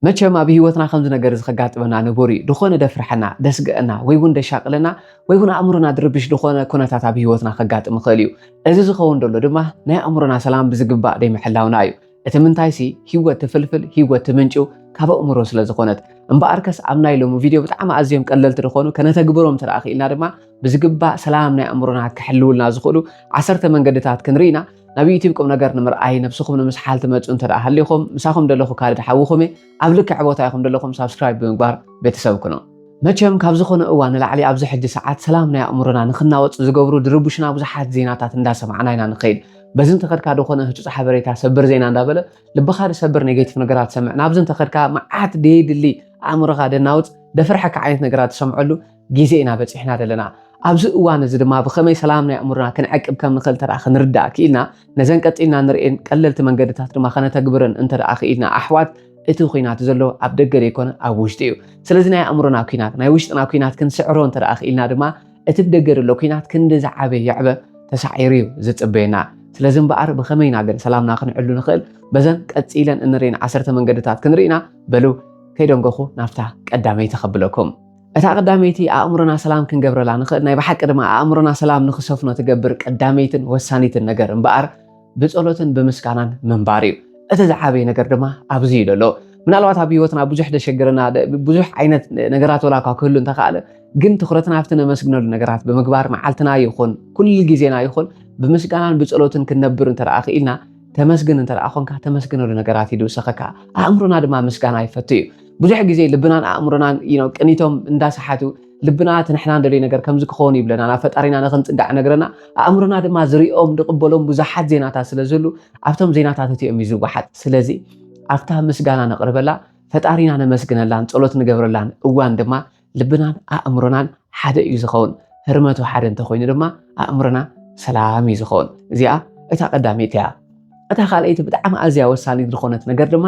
መቸም ኣብ ህይወትና ከምዚ ነገር እዚ ከጋጥመና ንቡር እዩ። ድኾነ ደፍርሐና፣ ደስግእና፣ ወይ እውን ደሻቅለና፣ ወይ እውን ኣእምሮና ድርብሽ ድኾነ ኩነታት ኣብ ህይወትና ከጋጥም ይኽእል እዩ። እዚ ዝኸውን ደሎ ድማ ናይ ኣእምሮና ሰላም ብዝግባእ ደይምሕላውና እዩ። እቲ ምንታይሲ ህይወት ትፍልፍል፣ ህይወት ትምንጭው ካብ ኣእምሮ ስለዝኾነት። እምበኣርከስ ኣብ ናይ ሎሚ ቪድዮ ብጣዕሚ ኣዝዮም ቀለልቲ ድኾኑ ከነተግብሮም እንተደኣ ክኢልና ድማ፣ ብዝግባእ ሰላም ናይ ኣእምሮና ክሕልውልና ዝኽእሉ ዓሰርተ መንገድታት ክንርኢ ኢና ናብ ዩቲብ ቁም ነገር ንምርኣይ ነብስኹም ንምስሓል ትመፁ እንተ ሃሊኹም ምሳኹም ደለኹ ካልድ ሓውኹም እየ ኣብ ልክዕ ቦታ ኢኹም ደለኹም ሳብስክራይብ ብምግባር ቤተሰብ ኩኖ መቸም ካብ ዝኾነ እዋን ንላዕሊ ኣብዚ ሕጂ ሰዓት ሰላም ናይ ኣእምሮና ንክናወፅ ዝገብሩ ድርቡሽና ብዙሓት ዜናታት እንዳሰማዕና ኢና ንኸይድ በዚ እንተኸድካ ዝኾነ ህፁፅ ሓበሬታ ሰብር ዜና እንዳበለ ልብኻ ዝሰብር ኔጌቲቭ ነገራት ሰምዕ ናብዚ እንተኸድካ መዓት ደየድሊ ኣእምሮኻ ደናውፅ ደፍርሐካ ዓይነት ነገራት ትሰምዐሉ ግዜ ኢና በጺሕና ዘለና። ኣብዚ እዋን እዚ ድማ ብኸመይ ሰላም ናይ ኣእምሮና ክንዕቅብ ከም ንኽእል እንተ ክንርዳእ ክኢልና፣ ነዘን ቀጺልና ንርእየን ቀለልቲ መንገድታት ድማ ከነተግብረን እንተ ክኢልና፣ ኣሕዋት እቲ ኩናት ዘሎ ኣብ ደገ ዘይኮነ ኣብ ውሽጢ እዩ። ስለዚ ናይ ኣእምሮና ኩናት፣ ናይ ውሽጥና ኩናት ክንስዕሮ እንተ ክኢልና ድማ እቲ ብደገ ዘሎ ኩናት ክንዲ ዝዓበ ይዕበ ተሳዒሩ እዩ ዝጽበየና። ስለዚ እምበኣር ብኸመይ ኢና ግን ሰላምና ክንዕሉ ንኽእል? በዘን ቀጺለን እንርእየን ዓሰርተ መንገድታት ክንርኢና በሉ ከይደንገኹ ናብታ ቀዳመይቲ ከብለኩም። እታ ቀዳመይቲ ኣእምሮና ሰላም ክንገብረላ ንኽእል ናይ ብሓቂ ድማ ኣእምሮና ሰላም ንኽሰፍኖ ትገብር ቀዳመይትን ወሳኒትን ነገር እምበኣር ብጸሎትን ብምስጋናን ምንባር እዩ። እቲ ዝዓበየ ነገር ድማ ኣብዚ እዩ ዘሎ። ምናልባት ኣብ ህይወትና ብዙሕ ዘሸግረና ብዙሕ ዓይነት ነገራት ወላ እኳ ክህሉ እንተኸኣለ ግን ትኩረትና ኣብቲ ነመስግነሉ ነገራት ብምግባር መዓልትና ይኹን ኩሉ ግዜና ይኹን ብምስጋናን ብጸሎትን ክንነብር እንተ ክኢልና ተመስግን እንተ ኮንካ ተመስግነሉ ነገራት ይድውሰኸካ ኣእምሮና ድማ ምስጋና ይፈቱ እዩ ብዙሕ ግዜ ልብናን ኣእምሮናን ቅኒቶም እንዳሰሓቱ ልብና እቲ ንሕና ንደልዮ ነገር ከምዚ ክኸውን ይብለና ናብ ፈጣሪና ንክንፅጋዕ ነገረና ኣእምሮና ድማ ዝሪኦም ዝቕበሎም ብዙሓት ዜናታት ስለ ዝህሉ ኣብቶም ዜናታት እቲኦም እዩ ዝወሓጥ ስለዚ ኣብታ ምስጋና ነቕርበላ ፈጣሪና ነመስግነላን ፀሎት ንገብረላን እዋን ድማ ልብናን ኣእምሮናን ሓደ እዩ ዝኸውን። ህርመቱ ሓደ እንተኾይኑ ድማ ኣእምሮና ሰላም እዩ ዝኸውን። እዚኣ እታ ቀዳመይቲ እያ። እታ ካልኣይቲ ብጣዕሚ ኣዝያ ወሳኒት ዝኾነት ነገር ድማ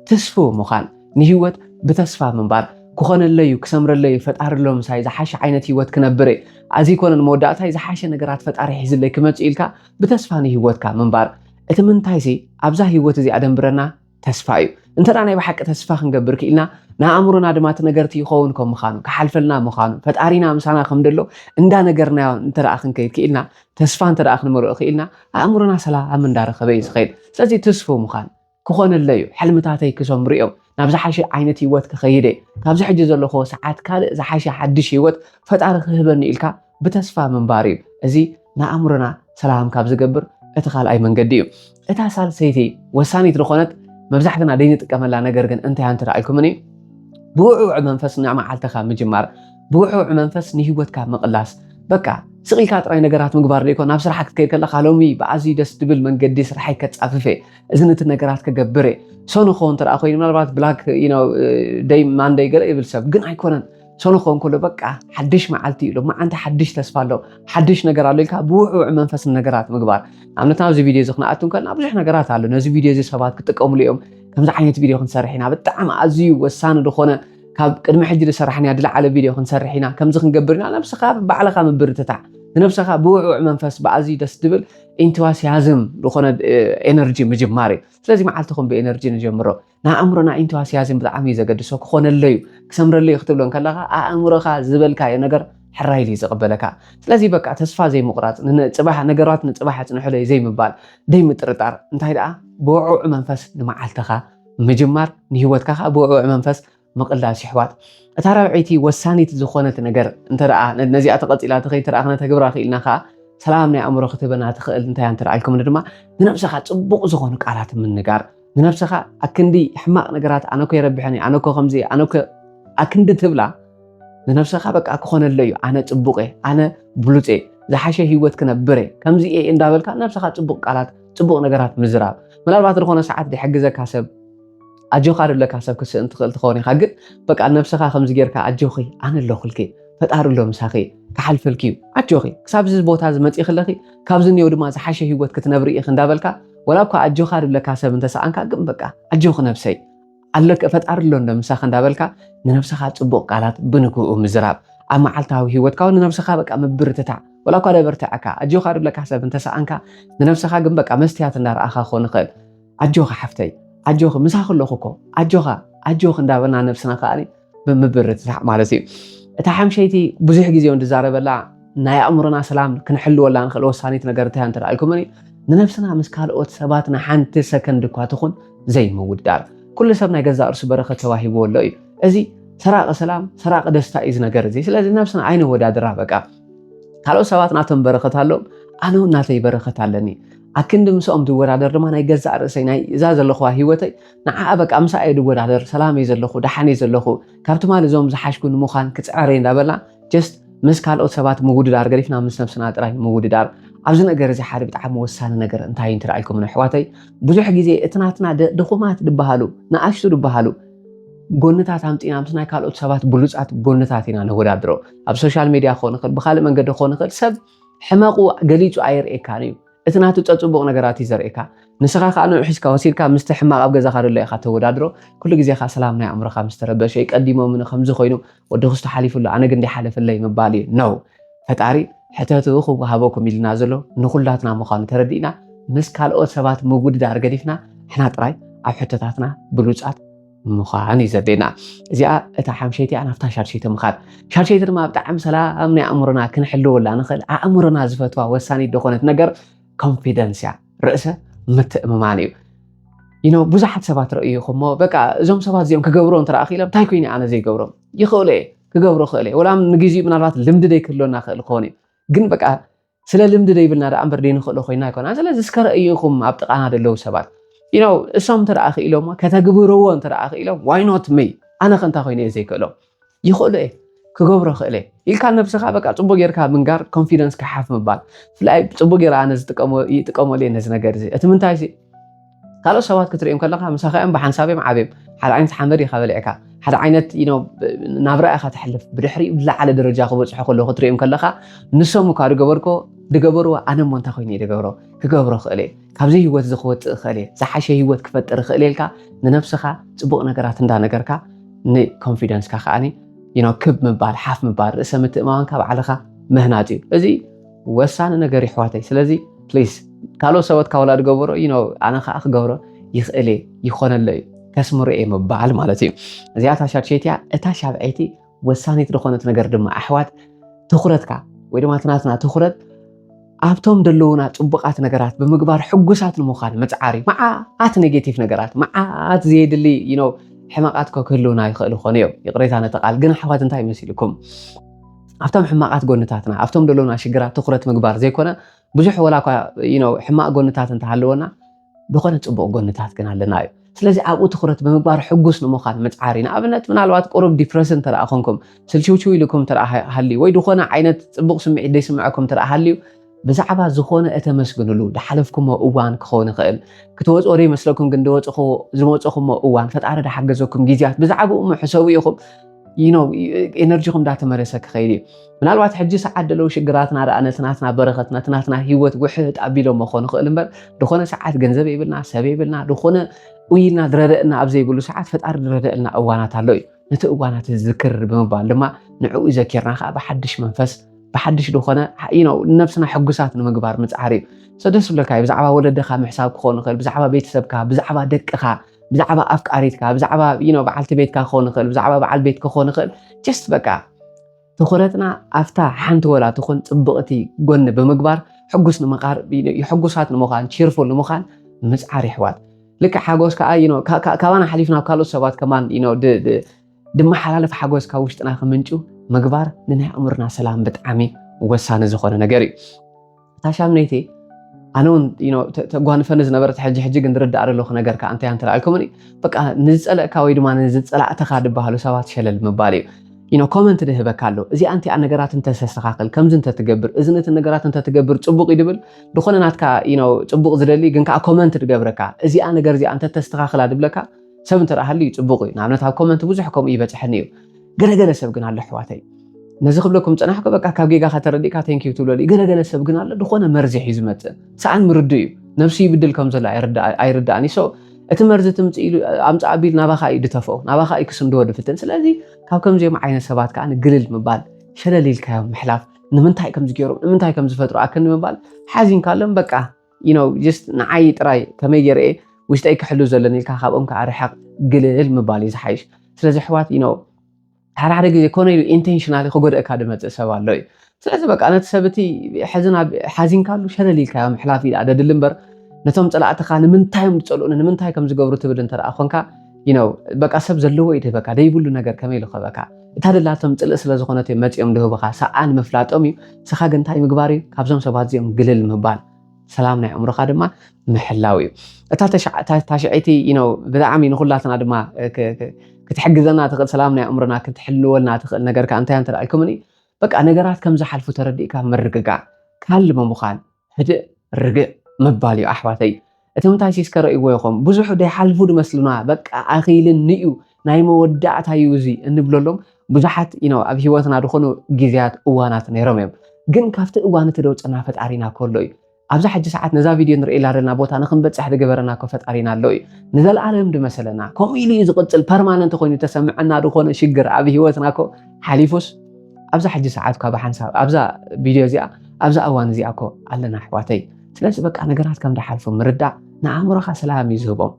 ትስፉው ምዃን፣ ንህይወት ብተስፋ ምንባር ክኾነለይ እዩ ክሰምረለይ እዩ ፈጣሪ ኣሎ ምሳይ ዝሓሸ ዓይነት ሂወት ክነብር እየ ኣዚ ኮነን መወዳእታይ ዝሓሸ ነገራት ፈጣሪ ሒዝለይ ክመጽእ ኢልካ ብተስፋ ንሂወትካ ምንባር እቲ ምንታይሲ ኣብዛ ሂወት እዚኣ ደንብረና ተስፋ እዩ እንተ ናይ ብሓቂ ተስፋ ክንገብር ክኢልና ንኣእምሮና ድማ እቲ ነገርቲ ይኸውን ከም ምዃኑ ክሓልፈልና ምዃኑ ፈጣሪና ምሳና ከም ደሎ እንዳነገርናዮ እንተ ክንከይድ ክኢልና ተስፋ እንተ ክንመልኦ ክኢልና ኣእምሮና ሰላም እንዳረኸበ እዩ ዝኸይድ ስለዚ ትስፉ ምዃን ክኾነለ እዩ ሕልምታተይ ክሰምሩ እዮም ናብ ዝሓሸ ዓይነት ህይወት ክኸይደ ካብዚ ሕጂ ዘለኹዎ ሰዓት ካልእ ዝሓሸ ሓድሽ ህይወት ፈጣሪ ክህበኒ ኢልካ ብተስፋ ምንባር እዩ። እዚ ንኣእምሮና ሰላም ካብ ዝገብር እቲ ካልኣይ መንገዲ እዩ። እታ ሳልሰይቲ ወሳኒት ዝኾነት መብዛሕትና ዘይንጥቀመላ ነገር ግን እንታይ ኣንቲ ረኣይኩምን እዩ ብውዕውዕ መንፈስ ንመዓልትኻ ምጅማር፣ ብውዕውዕ መንፈስ ንሂወትካ ምቕላስ። በቃ ስቕ ኢልካ ጥራይ ነገራት ምግባር ዘይኮን ናብ ስራሓ ክትከይድ ከለካ ሎሚ ብኣዝዩ ደስ ድብል መንገዲ ስራሓይ ከጻፍፍ እየ እዚ ነቲ ነገራት ክገብር እየ ሰኑ ክኸውን እንተ ኮይኑ ምናልባት ብላክ ደይ ማንደይ ገለ ይብል ሰብ ግን ኣይኮነን ሰኑ ክኸውን ከሎ በቃ ሓድሽ መዓልቲ እዩ ኣሎ መዓንቲ ሓድሽ ተስፋ ኣሎ ሓድሽ ነገር ኣሎ ኢልካ ብውዕውዕ መንፈስ ነገራት ምግባር ንኣብነት ናብዚ ቪድዮ እዚ ክንኣቱ ከለና ብዙሕ ነገራት ኣሎ ነዚ ቪድዮ እዚ ሰባት ክጥቀምሉ እዮም ከምዚ ዓይነት ቪድዮ ክንሰርሕ ኢና ብጣዕሚ ኣዝዩ ወሳኒ ዝኾነ ካብ ቅድሚ ሕጂ ዝሰራሕናያ ዝለዓለ ቪድዮ ክንሰርሕ ኢና ከምዚ ክንገብር ኢና ነብስኻ ባዕልኻ ምብርትታዕ ንነብስኻ ብውዕውዕ መንፈስ ብኣዝዩ ደስ ዝብል ኢንትዋስያዝም ዝኾነ ኤነርጂ ምጅማር እዩ ስለዚ መዓልትኹም ብኤነርጂ ንጀምሮ ንኣእምሮን ኣዒንቱ ኣስያዝን ብጣዕሚ እዩ ዘገድሶ ክኾነለይ እዩ ክሰምረለይ እዩ ክትብሎ እንከለኻ ኣእምሮኻ ዝበልካዮ ነገር ሕራይ ኢሉ እዩ ዝቕበለካ ስለዚ በቃ ተስፋ ዘይምቑራፅ ንፅባሕ ነገራት ንፅባሕ ኣፅንሑለይ ዘይምባል ዘይምጥርጣር እንታይ ደኣ ብውዕውዕ መንፈስ ንመዓልትኻ ምጅማር ንሂወትካ ከዓ ብውዕውዕ መንፈስ ምቕላስ ይሕዋት እታ ራብዐይቲ ወሳኒት ዝኾነት ነገር እንተ ነዚኣ ተቐፂላ ተኸይትርኣ ክነተግብራ ክኢልና ከዓ ሰላም ናይ ኣእምሮ ክትህበና ትኽእል እንታይ እንተ ኢልኩም ድማ ንነብሰኻ ፅቡቕ ዝኾኑ ቃላት ምንጋር ንነብሰኻ ኣክንዲ ሕማቕ ነገራት ኣነኮ የረብሐኒ ኣነኮ ከምዚ ኣነኮ ኣክንዲ ትብላ ንነብሰኻ በቃ ክኾነለ እዩ ኣነ ፅቡቕ እየ ኣነ ብሉፅ እየ ዝሓሸ ሂወት ክነብር እየ ከምዚ እየ እንዳበልካ ነብሰኻ ፅቡቕ ቃላት ፅቡቕ ነገራት ምዝራብ ምናልባት ዝኾነ ሰዓት ዝሕግዘካ ሰብ ኣጆካ ደለካ ሰብ ክትስእን ትኽእል ትኸውን ኢኻ ግን በቃ ነብስኻ ከምዚ ጌርካ ኣጆኺ ኣነ ኣለኹልኪ ፈጣሪ ኣሎ ምሳኺ ክሓልፈልኪ እዩ ኣጆኺ ክሳብ እዚ ቦታ እዚ መፂእኺ ኣለኺ ካብዚ እኒኦ ድማ ዝሓሸ ሂወት ክትነብሪ ኢኺ እንዳበልካ ወላ እኳ ኣጆኻ ድለካ ሰብ እንተሰኣንካ ግን በቃ ኣጆኺ ነብሰይ ኣለከ ፈጣሪ ኣሎ እንዶ ምሳኺ እንዳበልካ ንነብስኻ ፅቡቕ ቃላት ብንግኡ ምዝራብ ኣብ መዓልታዊ ሂወትካ እውን ንነብስኻ በቃ ምብርትታዕ ወላ እኳ ደበርትዐካ ኣጆኻ ድለካ ሰብ እንተሰኣንካ ንነብስኻ ግን በቃ መስትያት እንዳረኣኻ ክኾን ይኽእል ኣጆኺ ሓፍተይ ኣጆኺ ምሳኺ ኣለኹ እኮ ኣጆኻ ኣጆኺ እንዳበልና ነብስና ከኣ ብምብርትታዕ ማለት እዩ እታ ሓምሸይቲ ብዙሕ ግዜ እንድዛረበላ ናይ ኣእምሮና ሰላም ክንሕልወላ ንኽእል ወሳኒት ነገር እንታይ እንተ ኢልኩምኒ ንነብስና ምስ ካልኦት ሰባት ንሓንቲ ሰከንድ እኳ ትኹን ዘይምውዳር ኩሉ ሰብ ናይ ገዛእ ርእሱ በረኸት ተዋሂብዎ ኣሎ እዩ እዚ ሰራቂ ሰላም ሰራቂ ደስታ እዩ ዝነገር እዚ ስለዚ ነብስና ኣይነወዳድራ በቃ ካልኦት ሰባት ናቶም በረኸት ኣሎም ኣነ እውን ናተይ በረኸት ኣለኒ ኣክንዲ ምሳኦም ዝወዳደር ድማ ናይ ገዛእ ርእሰይ ናይ እዛ ዘለኹዋ ህይወተይ ንዓኣ በቃ ምሳኣ እየ ዝወዳደር ሰላም እየ ዘለኹ ደሓን እየ ዘለኹ ካብ ትማሊ እዞም ዝሓሽኩ ንምዃን ክጽዕር እየ እንዳበልና ጀስት ምስ ካልኦት ሰባት ምውድዳር ገዲፍና ምስ ነብስና ጥራይ ምውድዳር ኣብዚ ነገር እዚ ሓደ ብጣዕሚ ወሳኒ ነገር እንታይ እዩ እንትረኣይኩም ንኣሕዋተይ ብዙሕ ግዜ እቲ ናትና ድኹማት ድበሃሉ ንኣሽቱ ድበሃሉ ጎንታት ኣምፂና ምስ ናይ ካልኦት ሰባት ብሉፃት ጎንታት ኢና ነወዳድሮ ኣብ ሶሻል ሚድያ ክኾን ይኽእል ብካልእ መንገዲ ክኾን ይኽእል ሰብ ሕመቁ ገሊጹ ኣየርእየካን እዩ እቲ ናቱ ጸጽቡቅ ነገራት እዩ ዘርእካ ንስካ ከኣ ንዑ ሒዝካ ወሲድካ ምስቲ ሕማቅ ኣብ ገዛካ ደሎ ኢካ ተወዳድሮ ኩሉ ግዜ ከኣ ሰላም ናይ ኣእምሮካ ምስ ተረበሸ እዩ ቀዲሞምኒ ከምዚ ኮይኑ ወዲ ክስቶ ሓሊፉ ኣሎ ኣነ ግን ደይሓለፈለይ ምባል እዩ no ፈጣሪ ሕተቱ ክወሃበኩም ኢሉና ዘሎ ንኩላትና ምኳኑ ተረዲእና ምስ ካልኦት ሰባት ምውድዳር ገዲፍና ንሕና ጥራይ ኣብ ሕቶታትና ብሉጻት ምዃን እዩ ዘድልየና። እዚኣ እታ ሓምሸይቲ እያ ናብታ ሻድሸይቲ ምኻድ። ሻድሸይቲ ድማ ብጣዕሚ ሰላም ናይ ኣእምሮና ክንሕልወላ ንኽእል ኣእምሮና ዝፈትዋ ወሳኒት ዝኾነት ነገር ኮንፊደንስ እያ፣ ርእሰ ምትእምማን እዩ። ይኖ ብዙሓት ሰባት ረእዩ እሞ በቃ እዞም ሰባት እዚኦም ክገብሮ እንተ ክኢሎም እንታይ ኮይኑ ኣነ ዘይገብሮም ይኽእሉ እየ ክገብሮ ክእል እየ ወላ ንግዜኡ ምናልባት ልምዲ ዘይክህልወና ክእል ክኸውን እዩ ግን በቃ ስለ ልምዲ ደይብልና ደኣ እምበር ደይንኽእሎ ኮይና ኣይኮና ስለዚ እስከ ረእዩ ኢኹም ኣብ ጥቓና ደለዉ ሰባት ኢኖ እሶም እንተ ደኣ ክኢሎሞ ከተግብርዎ እንተ ደኣ ክኢሎም ዋይ ኖት መይ ኣነ ከ እንታይ ኮይነ እየ ዘይክእሎ ይኽእሎ እየ ክገብሮ ክእለ ኢልካ ነብስኻ በቃ ጽቡቅ ጌርካ ምንጋር ኮንፊደንስ ክሓፍ ምባል ብፍላይ ጽቡቅ ጌራ ኣነ ዝጥቀሞ ይጥቀመሉ እየ ነዚ ነገር እዚ እቲ ምንታይ ካልኦት ሰባት ክትርእዮም ከለኻ ምሳኻ እዮም ብሓንሳብ እዮም ዓብዮም ሓደ ዓይነት ሓመድ ኢኻ በሊዕካ ሓደ ዓይነት ናብራ ኢኻ ተሕልፍ ብድሕሪኡ ዝለዓለ ደረጃ ክበፅሑ ከሎ ክትርእዮም ከለኻ ንሶም እኳ ዝገበርኮ ዝገበርዎ ኣነ እሞ እንታይ ኮይኑ ዝገብሮ ክገብሮ ክእል እየ ካብዚ ህይወት እዚ ክወፅእ ክእል እየ ዝሓሸ ህይወት ክፈጥር ክእል ኢልካ ንነብስኻ ፅቡቅ ነገራት እንዳነገርካ ንኮንፊደንስካ ከዓኒ ክብ ምባል ሓፍ ምባል ርእሰ ምትእማማንካ ባዕልኻ ምህናፅ እዩ እዚ ወሳኒ ነገር ይሕዋተይ ስለዚ ፕሊስ ካልኦት ሰበት ካብ ወላድ ገበሮ እዩ ኣነ ከዓ ክገብሮ ይኽእል እየ ይኾነሎ እዩ ከስምሮ እየ ምባል ማለት እዩ እዚኣ ታሻድሸይቲ እያ እታ ሻብዐይቲ ወሳኒት ዝኾነት ነገር ድማ ኣሕዋት ትኩረትካ ወይ ድማ ትናትና ትኩረት ኣብቶም ዘለዉና ፅቡቃት ነገራት ብምግባር ሕጉሳት ንምዃን ምፅዓር እዩ መዓት ኔጌቲቭ ነገራት መዓት ዘየድሊ ሕመቃት ኮ ክህልውና ይኽእሉ ኾኑ እዮም ይቕሬታ ነተቃል ግን ኣሕዋት እንታይ መሲልኩም ኣብቶም ሕማቓት ጎንታትና ኣብቶም ደሎና ሽግራት ትኩረት ምግባር ዘይኮነ ብዙሕ ወላ እኳ ሕማቕ ጎንታት እንተሃለወና ዝኾነ ጽቡቕ ጎንታት ግን ኣለና እዩ ስለዚ ኣብኡ ትኩረት ብምግባር ሕጉስ ንምዃን ምፅዓር እዩ ንኣብነት ምናልባት ቁሩብ ዲፕረስ እንተ ኮንኩም ስልችውችው ኢልኩም እንተ ሃልዩ ወይ ዝኾነ ዓይነት ፅቡቕ ስምዒት ዘይስምዐኩም እንተ ሃልዩ ብዛዕባ ዝኾነ እተመስግንሉ ዝሓለፍኩሞ እዋን ክኸውን ይኽእል። ክትወፅኦ ዶ ይመስለኩም ግን ዝወፀኹሞ እዋን ፈጣሪ ዝሓገዘኩም ግዜያት ብዛዕባኡ እሞ ሕሰቡ ኢኹም ኤነርጂኹም እንዳተመለሰ ክኸይድ እዩ ምናልባት ሕጂ ሰዓት ደለው ሽግራትና ደኣ ነቲ ናትና በረኸት ነቲ ናትና ሂወት ውሕጥ ኣቢሎሞ ክኾኑ ይኽእል እምበር ዝኾነ ሰዓት ገንዘብ የብልና ሰብ የብልና ዝኾነ ኡይልና ዝረደአና ኣብ ዘይብሉ ሰዓት ፈጣሪ ዝረደአልና እዋናት ኣሎ እዩ ነቲ እዋናት ዝዝክር ብምባል ድማ ንዕኡ ዘኪርና ከዓ ብሓድሽ መንፈስ ብሓድሽ ዝኾነ ነብስና ሕጉሳት ንምግባር ምፅዓር እዩ ሰ ደስ ብለካ እዩ ብዛዕባ ወለድኻ ምሕሳብ ክኾን ይኽእል ብዛዕባ ቤተሰብካ ብዛዕባ ደቅኻ ብዛዕባ ኣፍቃሪትካ ብዛዕባ በዓልቲ ቤትካ ክኾን ይኽእል ብዛዕባ በዓል ቤት ክኾን ይኽእል ጀስት በቃ ትኹረትና ኣብታ ሓንቲ ወላ ትኹን ፅብቕቲ ጎኒ ብምግባር ሕጉስ ንምቃር ሕጉሳት ንምዃን ቺርፉል ንምዃን ምፅዓር ይሕዋት ልክዕ ሓጎስ ከዓ ካባና ሓሊፍና ካልኦት ሰባት ከማን ድመሓላለፍ ሓጎስ ካብ ውሽጥና ክምንጩ ምግባር ንናይ ኣእምርና ሰላም ብጣዕሚ ወሳኒ ዝኾነ ነገር እዩ እታ ሻምነይቲ ኣነ እውን ተጓንፈኒ ዝነበረት ሕጂ ሕጂ ግን ዝርዳእ ዘለኹ ነገር ከዓ እንታይ እንተላልኩምኒ በቃ ንዝፀለእካ ወይ ድማ ንዝፀላእትኻ ዝበሃሉ ሰባት ሸለል ምባል እዩ ኖ ኮመንት ድህበካ ኣሎ እዚኣ እንቲኣ ነገራት እንተተስተኻኽል ከምዚ እንተትገብር እዚ ነቲ ነገራት እንተትገብር ፅቡቅ እዩ ድብል ዝኾነ ናትካ ፅቡቅ ዝደሊ ግን ከዓ ኮመንት ድገብረካ እዚኣ ነገር እዚኣ እንተተስተኻኽላ ድብለካ ሰብ እንተ ሃልዩ ፅቡቕ እዩ ንኣብነት ኣብ ኮመንቲ ብዙሕ ከምኡ ይበፅሐኒ እዩ ገለገለ ሰብ ግን ኣሎ ኣሕዋተይ ነዚ ክብለኩም ፀናሕኩ በቃ ካብ ጌጋኻ ተረዲእካ ቴንኪዩ ትብለሉ ገለገለ ሰብ ግን ኣሎ ዝኾነ መርዚ ሒዩ ዝመፅእ ሰኣን ምርዱ እዩ ነብሱ ይብድል ከም ዘሎ ኣይርዳእን እዩ እቲ መርዚ ትምፅእ ኢሉ ኣምፃእ ኣቢል ናባኻ እዩ ድተፍኦ ናባኻ እዩ ክስንድዎ ድፍትን ስለዚ ካብ ከምዚኦም ዓይነት ሰባት ከዓ ግልል ምባል ሸለል ኢልካዮም ምሕላፍ ንምንታይ ከምዚ ገይሮም ንምንታይ ከም ዝፈጥሩ ኣክኒ ምባል ሓዚንካሎም በቃ ንዓይ ጥራይ ከመይ ገይረ እየ ውሽጠይ ክሕሉ ዘለኒ ኢልካ ካብኦም ከዓ ርሕቕ ግልል ምባል እዩ ዝሓይሽ ስለዚ ኣሕዋት ሓደ ሓደ ግዜ ኮነ ኢሉ ኢንቴንሽናሊ ክጎደእካ ዝመፅእ ሰብ ኣሎ እዩ ስለዚ በቃ ነቲ ሰብ እቲ ሓዚንካሉ ሸለል ኢልካዮ ምሕላፍ እዩ ደድሊ እምበር ነቶም ፀላእትኻ ንምንታይ እዮም ዝፀልኡኒ ንምንታይ ከም ዝገብሩ ትብል እንተ ኮንካ በቃ ሰብ ዘለዎ እዩ ድህበካ ደይብሉ ነገር ከመይ ኢሉ ከበካ እታ ደላቶም ጽልኢ ስለ ዝኾነት እዮም መጺኦም ድህቡኻ ሰኣን ምፍላጦም እዩ ንስኻ ግን እንታይ ምግባር እዩ ካብዞም ሰባት እዚኦም ግልል ምባል ሰላም ናይ ኣእምሮኻ ድማ ምሕላው እዩ እታ ታሽዐይቲ ነው ብጣዕሚ ንኩላትና ድማ ክትሕግዘና ትኽእል ሰላም ናይ ኣእምሮና ክትሕልወልና ትኽእል ነገር ከዓ እንታይ እንተ ኢልኩምኒ በቃ ነገራት ከም ዝሓልፉ ተረዲእካ ምርግጋእ ካልሚ ምዃን ህድእ ርግእ ምባል እዩ ኣሕዋተይ እቶም ታይሲስ ከረእይዎ ይኾም ብዙሑ ደይሓልፉ ድመስሉና በቃ ኣኺልን ንዩ ናይ መወዳእታ እዩ እዚ እንብለሎም ብዙሓት ዩ ኣብ ሂወትና ዝኾኑ ግዜያት እዋናት ነይሮም እዮም ግን ካብቲ እዋን እቲ ደውፅና ፈጣሪና ከሎ እዩ ኣብዛ ሕጂ ሰዓት ነዛ ቪድዮ ንርእላ ዘለና ቦታ ንክንበፅሕ ዝገበረና እኮ ፈጣሪና ኣሎ እዩ ንዘለኣለም ድመሰለና ከምኡ ኢሉ እዩ ዝቕፅል ፐርማነንት ኮይኑ ተሰምዐና ዝኾነ ሽግር ኣብ ሂወትና ኮ ሓሊፉስ ኣብዛ ሕጂ ሰዓት እኳ ብሓንሳብ ኣብዛ ቪድዮ እዚኣ ኣብዛ እዋን እዚኣ እኮ ኣለና ኣሕዋተይ ስለዚ በቃ ነገራት ከም ዝሓልፉ ምርዳእ ንኣእምሮኻ ሰላም እዩ ዝህቦም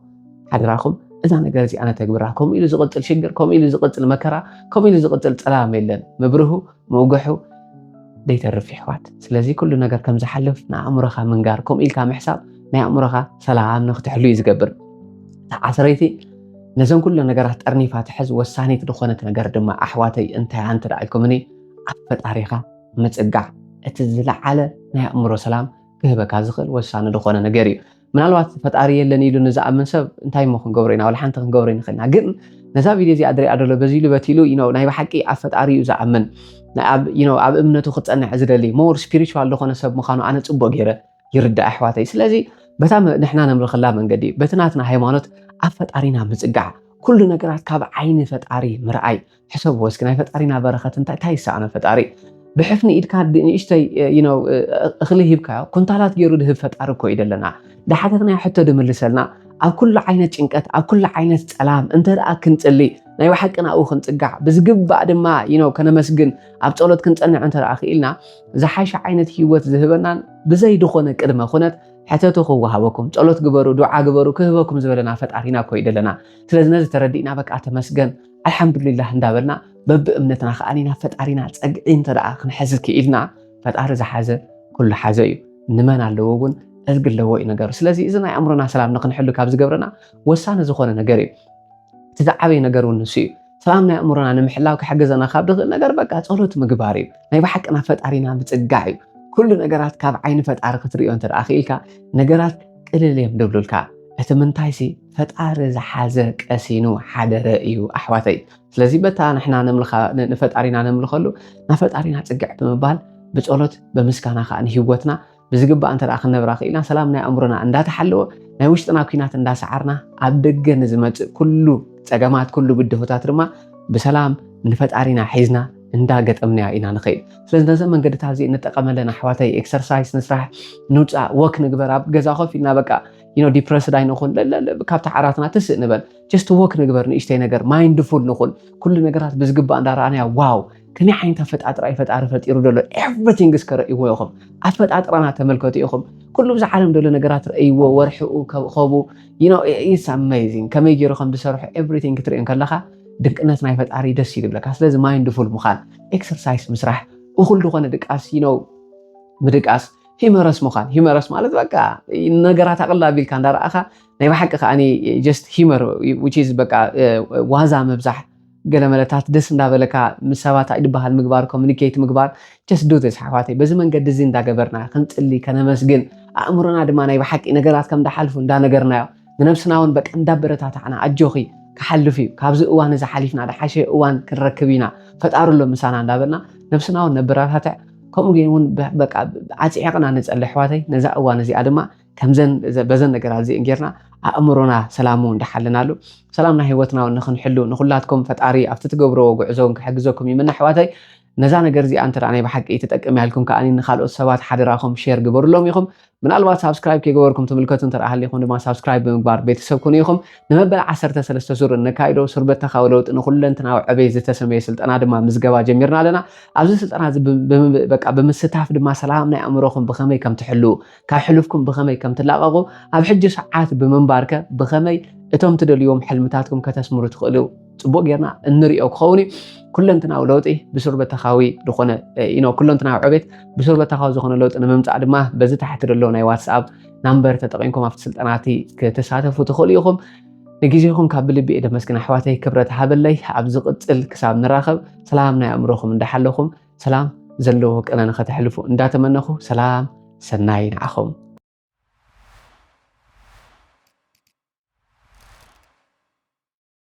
ሓደራኹም እዛ ነገር እዚኣ ነተግብራ ከምኡ ኢሉ ዝቕፅል ሽግር ከምኡ ኢሉ ዝቕፅል መከራ ከምኡ ኢሉ ዝቕፅል ፀላም የለን ምብርሁ ምውግሑ ደይተርፍ ይሕዋት ስለዚ ኩሉ ነገር ከም ዝሓልፍ ንኣእምሮኻ ምንጋር ከምኡ ኢልካ ምሕሳብ ናይ ኣእምሮኻ ሰላም ንክትሕሉ እዩ ዝገብር ተዓስረይቲ ነዘን ኩለን ነገራት ጠርኒፋ ትሕዝ ወሳኒት ዝኾነት ነገር ድማ ኣሕዋተይ እንታይ እያ እንተ ኢልኩምኒ ኣብ ፈጣሪኻ ምጽጋዕ እቲ ዝለዓለ ናይ ኣእምሮ ሰላም ክህበካ ዝኽእል ወሳኒ ዝኾነ ነገር እዩ ምናልባት ፈጣሪ የለን ኢሉ ንዝኣምን ሰብ እንታይ እሞ ክንገብሮ ኢና ዋላ ሓንቲ ክንገብሮ ይንኽእልና ግን ነዛ ቪድዮ እዚኣ ድሪኣ ደሎ በዚ ኢሉ በቲ ኢሉ ኢኖ ናይ ብሓቂ ኣብ ፈጣሪ እዩ ዝኣምን ኣብ እምነቱ ክፀንዕ ዝደሊ ሞር ስፒሪቹዋል ዝኾነ ሰብ ምዃኑ ኣነ ፅቡቅ ገይረ ይርዳእ ኣሕዋተይ ስለዚ በታ ንሕና ነምልኸላ መንገዲ በቲ ናትና ሃይማኖት ኣብ ፈጣሪና ምጽጋዕ ኩሉ ነገራት ካብ ዓይኒ ፈጣሪ ምርኣይ ሕሰብ ወስኪ ናይ ፈጣሪና በረኸት እንታይ እንታይ ይሰኣኖ ፈጣሪ ብሕፍኒ ኢድካ ንእሽተይ ነው እኽሊ ሂብካዮ ኩንታላት ገይሩ ድህብ ፈጣሪ እኮ እዩ ዘለና ድሓተትናዮ ሕቶ ድምልሰልና ኣብ ኩሉ ዓይነት ጭንቀት ኣብ ኩሉ ዓይነት ፀላም እንተ ደኣ ክንፅሊ ናይ ብሓቂ ናብኡ ክንፅጋዕ ብዝግባእ ድማ ነው ከነመስግን ኣብ ፀሎት ክንፀንዕ እንተ ደኣ ክኢልና ዝሓሸ ዓይነት ህይወት ዝህበናን ብዘይ ድኾነ ቅድመ ኩነት ሕተቱ ክወሃበኩም ጸሎት ግበሩ ዱዓ ግበሩ ክህበኩም ዝበለና ፈጣሪና እኮ እዩ ዘለና ስለዚ ነዚ ተረዲእና በቃ ተመስገን ኣልሓምዱሊላህ እንዳበልና በብእምነትና ከዓ ናብ ፈጣሪና ፀግዒ እንተደኣ ክንሕዝ ክኢልና ፈጣሪ ዝሓዘ ኩሉ ሓዘ እዩ ንመን ኣለዎ እውን እዝጊ ኣለዎ እዩ ነገሩ ስለዚ እዚ ናይ ኣእምሮና ሰላም ንክንሕሉ ካብ ዝገብረና ወሳኒ ዝኾነ ነገር እዩ እቲ ዝዓበየ ነገር እውን ንሱ እዩ ሰላም ናይ ኣእምሮና ንምሕላው ክሕግዘና ካብ ድኽእል ነገር በቃ ጸሎት ምግባር እዩ ናይ ብሓቂ ናብ ፈጣሪና ምጽጋዕ እዩ ኩሉ ነገራት ካብ ዓይኒ ፈጣሪ ክትርእዮ እንተ ክኢልካ ነገራት ቅልል እዮም ደብሉልካ እቲ ምንታይሲ ፈጣሪ ዝሓዘ ቀሲኑ ሓደረ እዩ ኣሕዋተይ ስለዚ በታ ንሕና ንፈጣሪና ነምልኸሉ ናብ ፈጣሪና ጽግዕ ብምባል ብጸሎት ብምስጋና ከዓ ንህወትና ብዝግባእ እንተ ክንነብራ ክኢልና ሰላም ናይ ኣእምሮና እንዳተሓለወ ናይ ውሽጥና ኩናት እንዳሰዓርና ኣብ ደገ ንዝመፅእ ኩሉ ፀገማት ኩሉ ብድሆታት ድማ ብሰላም ንፈጣሪና ሒዝና እንዳገጠምናያ ኢና ንኸይድ ስለዚ ነዘ መንገድታት እዚ ንጠቀመለን ኣሕዋተይ ኤክሰርሳይስ ንስራሕ ንውፃእ ወክ ንግበር ኣብ ገዛ ኮፍ ኢልና በቃ ዩኖ ዲፕረስድ ኣይንኹን ካብቲ ዓራትና ትስእ ንበል ጀስት ወክ ንግበር ንእሽተይ ነገር ማይንድፉል ንኹን ኩሉ ነገራት ብዝግባእ እንዳረኣናያ ዋው ከመይ ዓይነት ኣፈጣጥራ እዩ ፈጣሪ ፈጢሩ ዘሎ ኤቭሪቲንግ እስከ ረእይዎ ኢኹም ኣፈጣጥራና ተመልከቱ ኢኹም ኩሉ ብዛ ዓለም ደሎ ነገራት ረእይዎ ወርሕኡ ከብኸቡ ኢትስ ኣሜዚንግ ከመይ ገይሩ ከም ዝሰርሑ ኤቭሪቲንግ ክትርእዮ ከለካ ድቅነት ናይ ፈጣሪ ደስ እዩ ዝብለካ ስለዚ ማይንድፉል ምዃን ኤክሰርሳይስ ምስራሕ እኹል ዝኾነ ድቃስ ነው ምድቃስ ሂመረስ ምዃን ሂመረስ ማለት በቃ ነገራት ኣቕላ ቢልካ እንዳረኣኻ ናይ ብሓቂ ከዓኒ ጀስት ሂመር ዊች በቃ ዋዛ ምብዛሕ ገለ መለታት ደስ እንዳበለካ ምስ ሰባት ኣይድበሃል ምግባር ኮሙኒኬት ምግባር just do this ኣሕዋተይ በዚ መንገዲ እዚ እንዳገበርና ክንጽሊ ከነመስግን ኣእምሮና ድማ ናይ ብሓቂ ነገራት ከም ዳሓልፉ እንዳነገርናዮ ንነብስና እውን በቃ እንዳበረታታዕና ኣጆኺ ክሓልፍ እዩ ካብዚ እዋን እዚ ሓሊፍና ድሓሸ እዋን ክንረክብ ኢና ፈጣሪ ኣሎ ምሳና እንዳበልና ነብስና እውን ነበረታትዕ ከምኡ ግን እውን በቃ ዓፂዕቕና ንጸሊ ኣሕዋተይ ነዛ እዋን እዚኣ ድማ ከምዘን በዘን ነገራት እዚእን ጌርና ኣእምሮና ሰላሙ እንዳሓለናሉ ሰላምና ህይወትና እውን ንክንሕሉ ንኩላትኩም ፈጣሪ ኣብቲ ትገብርዎ ጉዕዞ እውን ክሕግዘኩም ይምነ ኣሕዋተይ ነዛ ነገር እዚኣ እንተ ናይ ብሓቂ ትጠቅም እያ ኢልኩም ከዓኒ ንካልኦት ሰባት ሓደራኹም ሼር ግበርሎም ኢኹም ምናልባት ሳብስክራይብ ከይገበርኩም ትምልከቱ እንተ ሃሊኹም ድማ ሳብስክራይብ ብምግባር ቤተሰብ ኩኑ ኢኹም ንመበል 13 ዙር እነካይዶ ሱርበተካዊ ለውጢ ንኩለንትናዊ ዕበይ ዝተሰመየ ስልጠና ድማ ምዝገባ ጀሚርና ኣለና ኣብዚ ስልጠና እዚ በቃ ብምስታፍ ድማ ሰላም ናይ ኣእምሮኹም ብኸመይ ከም ትሕልው ካብ ሕሉፍኩም ብኸመይ ከም ትላቐቑ ኣብ ሕጂ ሰዓት ብምንባርከ ብኸመይ እቶም ትደልዩዎም ሕልምታትኩም ከተስምሩ ትኽእሉ ፅቡቅ ጌርና እንሪኦ ክኸውን እዩ ኩለንትናዊ ለውጢ ብሱርበተኻዊ ዝኾነ ኖ ኩለንትናዊ ዕቤት ብሱርበተኻዊ ዝኾነ ለውጢ ንምምፃእ ድማ በዚ ታሕቲ ዘሎ ናይ ዋትስኣፕ ናምበር ተጠቂምኩም ኣብቲ ስልጠና እቲ ክትሳተፉ ትኽእሉ ኢኹም ንግዜኹም ካብ ብልቢ እየ ደመስግን ኣሕዋተይ ክብረት ሃበለይ ኣብ ዝቕፅል ክሳብ ንራኸብ ሰላም ናይ ኣእምሮኹም እንዳሓለኹም ሰላም ዘለዎ ቅነ ንኸተሕልፉ እንዳተመነኹ ሰላም ሰናይ ንዓኹም።